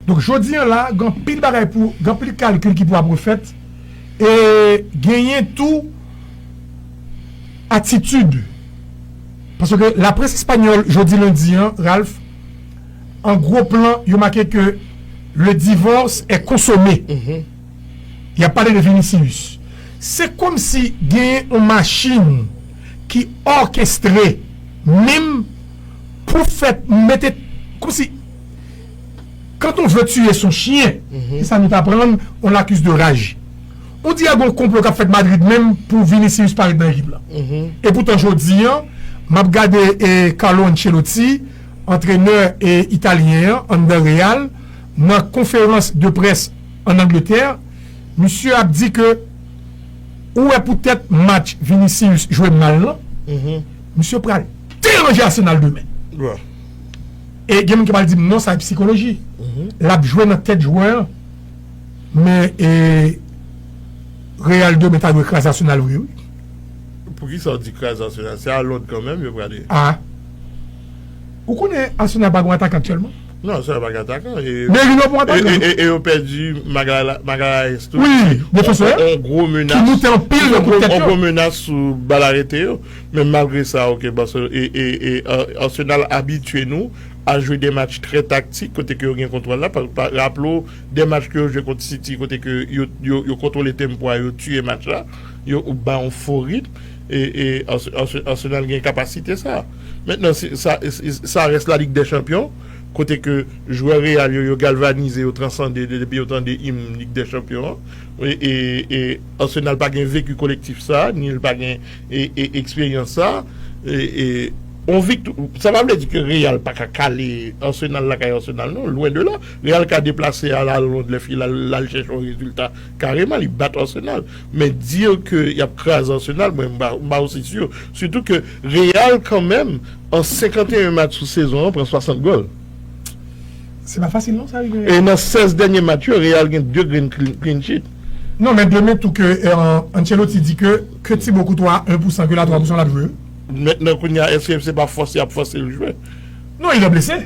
Donk jodi an la gen anpil bagay pou, gen anpil kalkil ki pou ap refèt e genyen tou atitid paske laprès espanyòl jodi lendi an Ralph an gwo plan yo make ke le divorce est consommé y ap pale de Vinicius se kòmsi genyen yon machin ki òkestre menm pou fè mete kòmsi. Quand on veut tuer son chien, se sa nou t aprann, on l'accuse de rage. On dirait gon konplo k ap fèt Madrid menm pou Vinicius pa ret nan ekip la. E poutan jodi an, m ap gade Carlo Ancelotti, antrenè italyen an anndan Real, nan konferans de près ann Angletè, misye ap di ke ou wè poutèt match Vinicius jwe mal lan, misye pral deranje Arsenal demen. E gen moun ki pral di m non sa e psikoloji. L ap jwe nan tèt jwè an. Men e Real demen ta dwe kraze Arsenal vre wi. Poukisa w di kraze Arsenal? Se a Lond kanmenm yo prale. A! Ou konnen Arsenal pa gen yon atakan aktyèlman? Non, Arsenal pa gen atakan. Merino pou atakan wi. E yo pèdi Magalhaes tou. Wi, defansè an. On gwo menas. Ki moute anpil nan kout tèt yo. On gwo menas sou bal arete yo. Men malgre sa ok Arsenal abitye nou a jwe de match trè taktik kote ke yo gen kontwòl la, raple w de match ke yo jwe kont City kote ke yo kontwole tempo a yo tiye match la, yo ba yon fo ritm e Arsenal gen kapasite sa. Mentnan sa rès la Ligue des Champions kote ke jwè Real yo yo galvanize yo transande depi yo tande im Ligue des Champions an e Arsenal pa gen vecu kolektif sa ni l pa gen eksperyans sa yon vik sa pa vle di ke real pa ka kale arsenal lakay arsenal non lwen de la real ka deplase al al lond lè file al chèche yon rezilta kareman li bat arsenal men dir ke yap kraze arsenal mwen m pa osi sur sitou ke real kan menm an 51 match sou sezon an pran 60 gòl se pa fasil non sa rive e nan 16 dènye match yo real gen 2 grenn clean sheet non men demen tou ke ancelotti di ke Ke ti bo kouto a 1 pou 100 ke la 3 pou 100 lap jwe wi. Mètnan kounya eske se pa fòs yap fòsel jwe. Non il est blessé.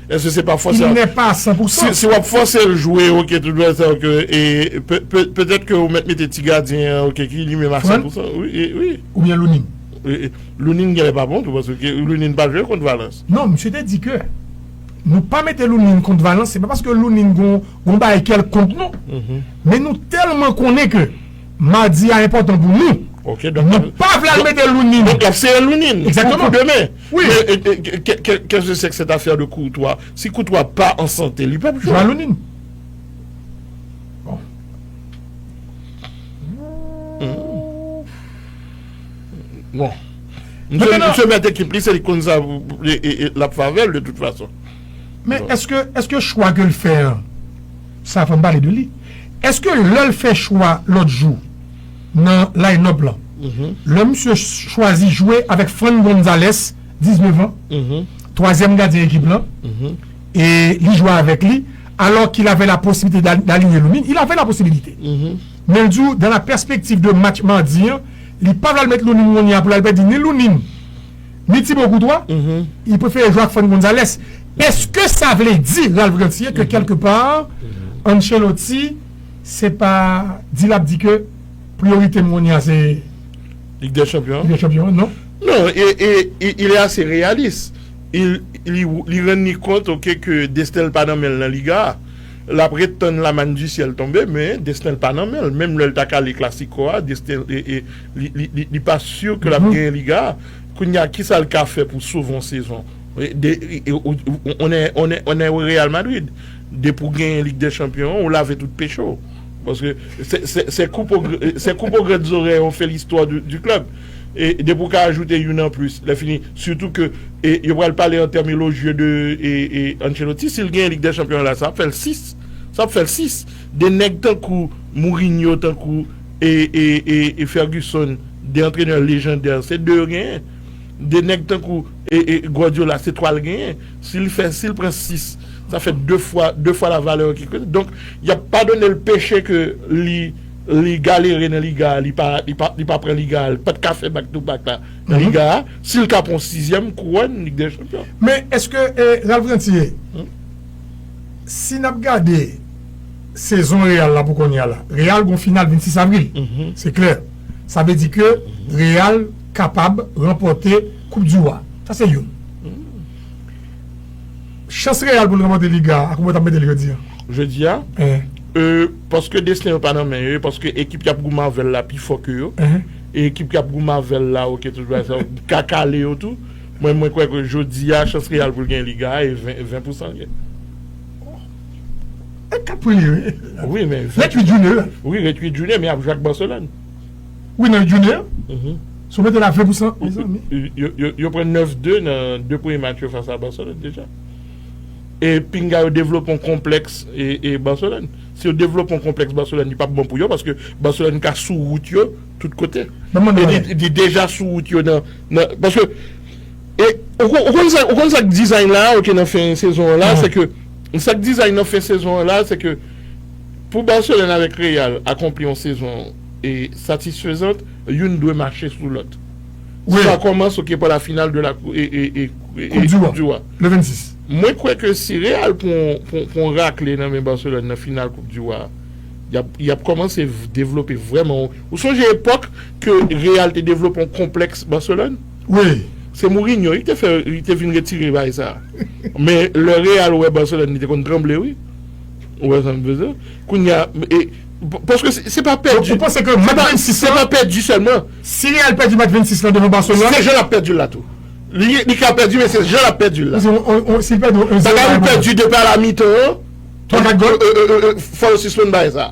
Eske se pa fòs yap. Il n'est pas a 100 pou 100. Si wap fòsel jwe ok tout bagay sa ok e petèt ke ou mèt mete ti gadyen an ok ki li menm a 100 pou 100 wi. Ou byen Lunin. Lunin genlè pa bon tou paske Lunin pa jwe kont Valence. Non misye te di ke nou pa mete Lunin kont Valence se pa paske Lunin gon bagay kelkont non men nou tèlman konnen ke Madi a enpòtan pou nou. Ok donk. Nou pa vle al mete lounin. Donk lap sere lounin. Exactement. Pou demen. Oui. Kè se sèk sèt afè de koutwa. Si koutwa pa an sante li pap jwe. Jwe a lounin. Bon. Msye mèt ekip li se li konn sa lap favèl de tout fason. Men eske chwa ke l fè an. sa fòm pale de li eske lèl fè chwa lòt jou nan line up lan lè misye chwazi jwe avèk Fran Gonzalez 19 ans twazyèm gadyen ekip lan e li jwe avèk li alò ki lave la posiblite dalinye nou min il ave la posibilite men l di ou dan la pèspektiv de match mardi an li pa vle al met nou nin wonya pou lal pèdi ni nou nin. Ni Thibaut Courtois, li prefere jwe ak Fran Gonzalez. Eske sa vle di, Ralph Ganthier, ke kèlke pa, Ancelotti se pa di l ap di ke priyorite m kounye a se Lig dè Chanpyon an? Lig dè Chanpyon an, non. Non, e il est assez réaliste. Li rann li kont ok ke desten l pa nan men l nan Liga a. L ap ret tann la manne du ciel tonbe, men desten l pa nan men l. Menm lè l ta kale Clasico a, desten l. Li pa sur ke lap genyen liga a, kounye a kisa li ka fè pou sove yon sezon? Ou nan Real Madrid, depi ou genyen lig dè chanpyon an, ou lave tout peche ou. Paske se koup o grenn zorèy ou fè listwa di klèb. E depi ou ka ajoute youn an plis, lè fini, sitou ke yo pral pale an tèm elojye de Ancelotti, si li genyen lig dè chanpyon an la, sa ap fè l 6. Sa ap fè l 6. De nèg tankou Mourinho, tankou. e Ferguson 2 antrenè lejandè se 2 yo genyen 2 nèg tankou e Guardiola se 3 l genyen si l fè si l pran 6 sa fè 2 fwa 2 fwa la valè donk y ap padone l peche ke li li galere nan liga a li pa li pa li pa pran liga a li pa t ka fè bak tou bak la nan liga a si l ka pran yon sizyèm kouwòn lig dè chanpyon men èske e Ralph Ranthier si n ap gade sezon Real la pou kounye a la. Real gon final 26 avril, se klè. Sa vle di ke Real kapab ranpòte koup di Wa. Sa se youn. Chans Real pou l ranpòte Liga a, a kouman w ta mete l jodi a? Jodi a? Ee, paske desten yo pa nan men yo e paske ekip k ap goumen avè l la pi fò ke yo. E ekip k ap goumen avè l la, oke tout bagay sa yo, ka kale yo tou. Mwen kwè ke jodi a, chans Real pou l gen Liga a e 20 pousan l gen. Li ka premye wi. Wi men. Ret 8 jounen yo. Wi ret 8 jounen men yap jwe ak Barcelone. Wi nan 8 jounen yo. Si w mete la 20 pou san mezanmi. Yo pran 9 2 nan 2 premye match yo fas a Barcelone deja. E pinga yo devlope yon konpleks e Barcelone. Si yo devlope yon konpleks Barcelone li pap bon pou yo paske Barcelone ka sou wout yo tout kote. Li deja sou wout yo nan paske. E ou kon ou konn sa ou konn sa k design la a ok nan fen sezon an la a se ke sa k design nan fen sezon an la a se ke pou Barcelone avèk Real akonpli yon sezon e satisfezant youn dwe mache sou lòt si la kòmanse ok pou la final de la kou e e e koup di koup di wa le 26 mwen kwè ke si Real pran yon pran yon pran yon rakle nan men Barcelone nan final koup di wa a y ap y ap kòmanse devlope vrèman yon ou sonje epòk ke Real te devlope yon konplèks Barcelone. Wi. Se Mourinho wi ki te fè li te vin retire bagay sa. Men lè Real wè Barcelone li te konn tranble wi. Ou wè sa m vle di w. Kounya e paske se pa pèdi. Ou panse ke match 26 lan. Se pa pèdi sèlman. Si Real pèdi match 26 lan devan Barcelone. Se jan l ap pèdi l la tou. Li ka pèdi men se jan l ap pèdi l la. Si l pèdi yon 1 0. Bagay ou pèdi depi ala mitan an. 3 4 gòl. Fò yo sispann bagay sa.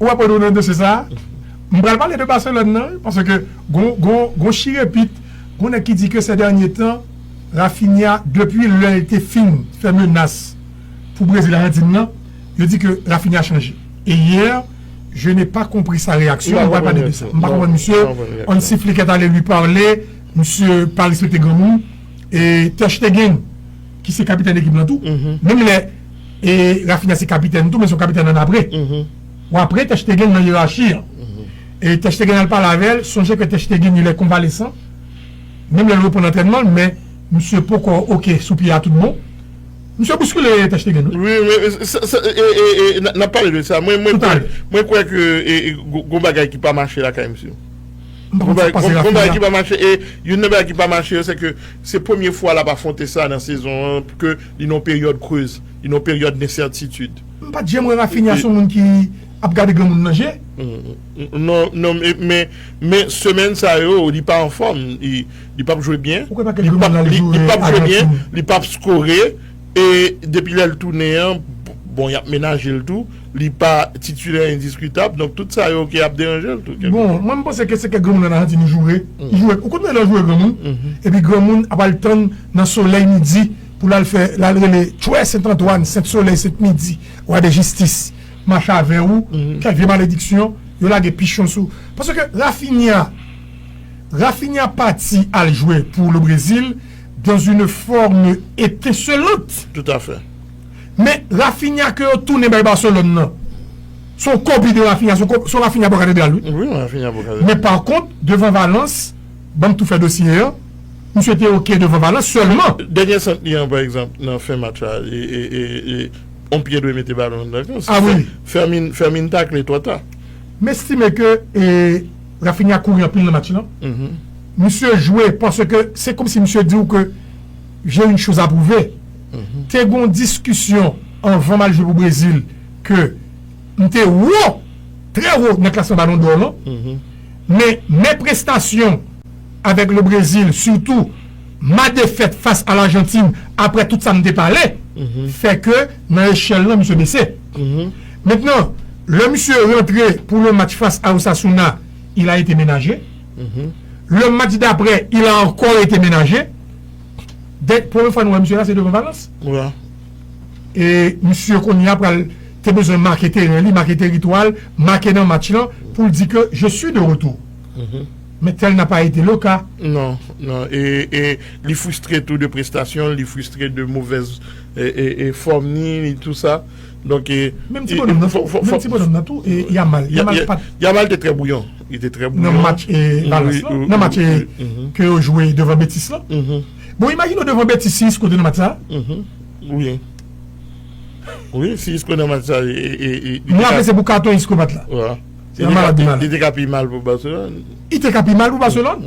Ou aprann ou nan dosye sa? M pral pale de Barcelone nan wi paske gon chirepit, gon nèg ki di ke sè dènye tan Raphinha depi lè l te fin fè menas pou Brezil Ajantin nan, yo di ke Raphinha chanje. E yè je n'ai pas compris sa reyaksyon, m pral pale de sa. M pa konprann misye, on siflikèt ale li pale, misye pa respekte granmoun. e ter stegen ki se kapitèn ekip lan tou menm lè e rafinya se kapitèn tou men son kapitèn an apre ou apre ter stegen nan yerachi an e ter stegen al pale avèl sonje ke ter stegen ilè konvalesan menm lè l reprann antrènman men misye poko ok sou pye a tout bon misye bouskile ter stegen wi wi wi e e e nap pale de sa mwen mwen mwen kwè ke e gon bagay ki pa mache lakay misye. M pa konn sak pase Rafi a. Youn nan bagay ki pa mache yo se ke se premye fwa l ap afwonte sa nan sezon an ke li nan yon peryòd creuse, li nan yon peryòd densètitid. M pat janm wè Raphinha son moun ki ap gade granmoun nan je. Non, men semèn sa yo li pa anfòm, li pap jwe byen, li pap jwe byen, li pap skore. E depi lè l tounen an, bon yap menaje l tou, li pa titilè endiskitab, donk tout sa yo ok ap deranje l tou. Bon, mwen m panse ke se kèk granmoun an Ayiti nou joure, joure, ou konn lè nan joure granmoun, epi granmoun ap al tann nan solèy midi pou l al fè, l al rele Chwè Sent Antwàn, Sent Solèy, Sent Midi, Wa de Jistis, Mache avè ou, kèk vye malediksyon, yo lage pichon sou, paske Rafinha, Rafinha pati al jwe pou Le Brésil, Dans une forme etincelante. Tout a fè. Men Raphinha ke yo tounen bay Barcelone nan, se yon kopi de Raphinha, se yon Raphinha bò katedral wi. Wi, yon Raphinha bò katedral. Men par kont, devan Valence, banm tou fè dosye an, misye te ok devan Valence sèlman. Dènye sant li an, pa egzanp, nan fen match la, yon pye dwe mete balon anndan kan. Si Fermin takle twò ta. M estime ke Raphinha kouri anpil nan match lan. Misye jwe paske se komsi misye di ou ke j'ai une chose à prouver. Te gen yon diskisyon anvan m al jwe pou Brezil ke m te wo, trè wo nan klasman Ballon d'Or lan. Men mes prestations avec le Brésil, surtout ma défaite face à l'Argentine, aprè tout sa m te pale, fè ke nan echèl lan misye bese. Mentnan, lè misye rantre pou yon match fas a Osasuna, il a ete menaje. Le match dapre, il a ankò ete menaje. Dènye, premye fwa nou wè misye la, se devan Valence. E misye kounye a pral te bezwen make teren li, make teritwa l, make nan match lan pou l di ke je suis de retour. Men tel n'a pas été le cas. Non, non. E li fristre tou de prestasyon l, li fristre de movèz. fòm ni ni tou sa donk e menm ti bonòm nan fò menm ti bonòm nan tou e yamal yamal pat yamal te trè bouyon li te trè bouyon nan match e balans lan nan match e ke yo jwe devan betis lan bon imajine w devan betis si isko te nan match sa wi wi si isko nan match sa e mwen ape se pou katon isko pat la yamal ap di mal li te ka pi mal pou baselòn li te ka pi mal pou baselòn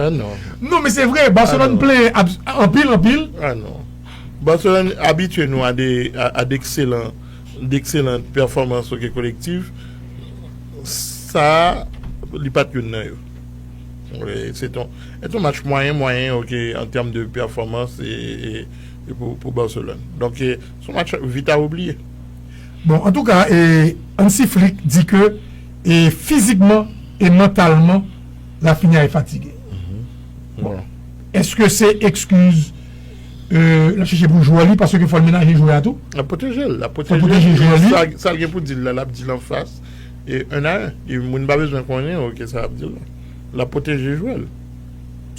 Non men se vre Barcelone plenyen anpil anpil. Ah non Barcelone abitye nou a de ekselan de ekselan pèfòmans ok kolektif sa li pat youn nan yo se ton se ton match mwayen mwayen ok an tèm de pèfòmans e pou Barcelone donk se son match vit a oubliye. Bon antouka Hansi Flick di ke E fizikman e mantalman Lafinia e fatige bon eske se ekskiz lap chèche pou jwè li paske fòl menaje jwè a tou lap pwoteje l lap pwoteje jwè li sal gen pou dil la lap dil anfas e 1 a 1 moun pa bezwen konnen ok sa lap dil la lap pwoteje jwè l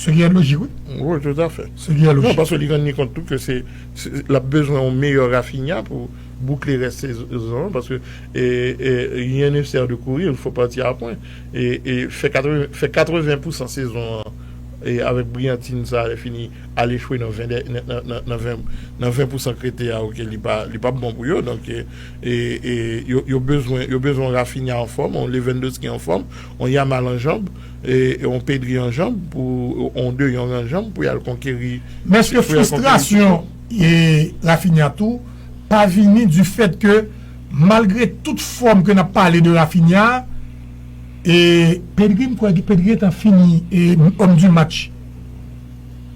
se gen lojik wi wi toutafè se gen lojik paske li rann li kont tou ke se lap bezwen yon meyè Rafinia pou. boukle rès sezon an paske rien ne sert de courir, il faut partir à point e fè 80 pousan sezon an avèk briyantin sa lè fini al echwe nan 20 dènye nan 20 pousan k rete a ok li pap bon pou yo donk yo bezwen yo bezwen yon Raphinha anfòm yon Lewandowski anfòm yon Yamal an janb yon Pedri an janb yon De Jong an janb pou y al konkeri Mès ke fristrasyon Raphinha tou. pa vini du fait ke malgre tout fòm ke nap pale de Raphinha e Pedri m kwè Pedri gentan fini homme du match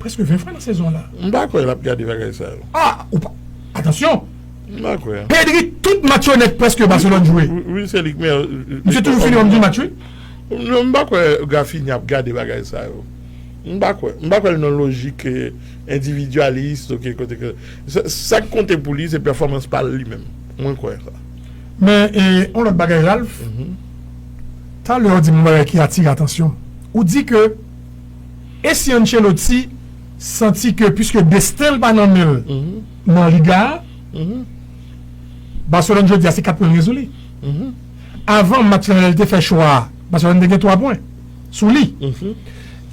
preske 20 fwa nan sezon la. M pa kwè lap gade bagay sa yo. A ou pa atansyon M pa kwè. Pedri tout match yo nèt preske Barcelone jwe Wi se li ki meyè misye toujou fini homme du match wi. Non m pa kwè Raphinha ap gade bagay sa yo. M pa kwè. M pa kwè l nan lojik ke Endividyalis ok kote ke sak konte pou li se pèfòmans pa l li menm mwen kwè sa. Men yon lòt bagay Ralph, talè ou di m yon bagay ki atire atansyon m, ou di ke e si Ancelotti santi ke puiske desten l pa nan men l nan Liga a, Barcelone jodi a se 4 pwen gen sou li. Avan match lan lè l te fè chwa a, Barcelone te gen 3 pwen sou li.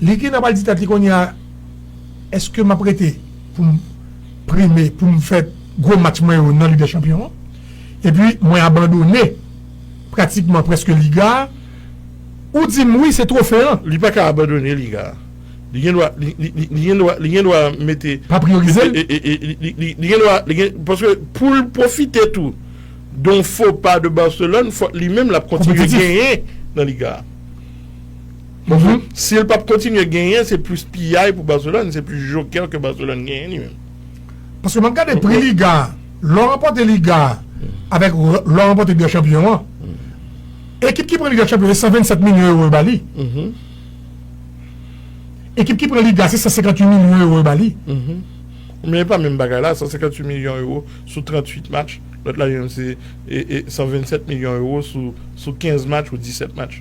Li gen dwa pral di tèt li kounye a. Eske map rete pou m prime pou m fè gwo match mwen yo nan Lig dè Chanpyon an epi mwen abandone pratikman prèske Liga a? Ou di m wi se twofe an. Li pa ka abandone Liga a. Li gen dwa li gen dwa li gen dwa mete. Pa priyorize l? Li gen dwa li gen paske pou l pwofite tou don fo pa de Barcelone fòk li menm l ap kontinye genyen nan Liga a. Si l pap kontinye genyen se plis piyay pou Barcelone, se plis jokè ke Barcelone genyen li menm. Paske map gade pri liga a, lè w ranpòte liga a avèk lè w ranpòte Liga Chanpyon an, ekip ki pran Liga Chanpyon se 127 milyon ewo yo ba li. Ekip ki pran liga se 158 milyon ewo yo ba li. Men e pa menm bagay la, 158 milyon ewo sou 38 match, lòt la li menm se 127 milyon ewo sou 15 match ou 17 match.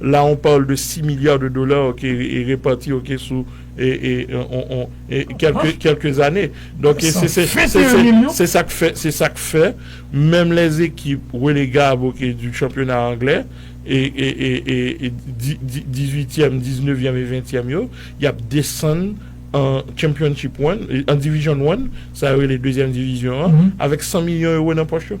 La on parle de 6 milliards de dollars ok e reparti ok sou e e on on e kèlke kèlke zane donk e se se se se sa k fè se sa k fè menm lè zekip relegab ok di chanpyona anglè e e e e e di di dizuityèm diznevyèm e ventyèm yo y ap desann an chanpyonchip wan an divizyon wan sa yo rele dezyèm divizyon an avèk san milyon ewo nan pòch yo.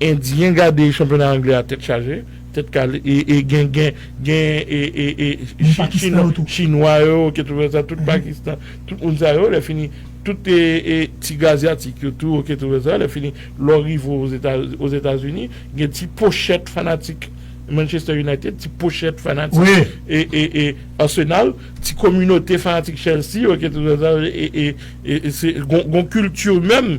Endyen gade chanpyona anglè a tèt chaje, tèt kale e gen gen gen chinwa yo ok tout wè sa tout pakistan tout moun sa yo lè fini tout ti gazyatik yo tou ok tout wè sa lè fini lè w rive ozetazini gen ti pochèt fanatik manchester united ti pochèt fanatik ee arsenal ti kominote fanatik chelsea ok tout wè sa ee gon kilti menm.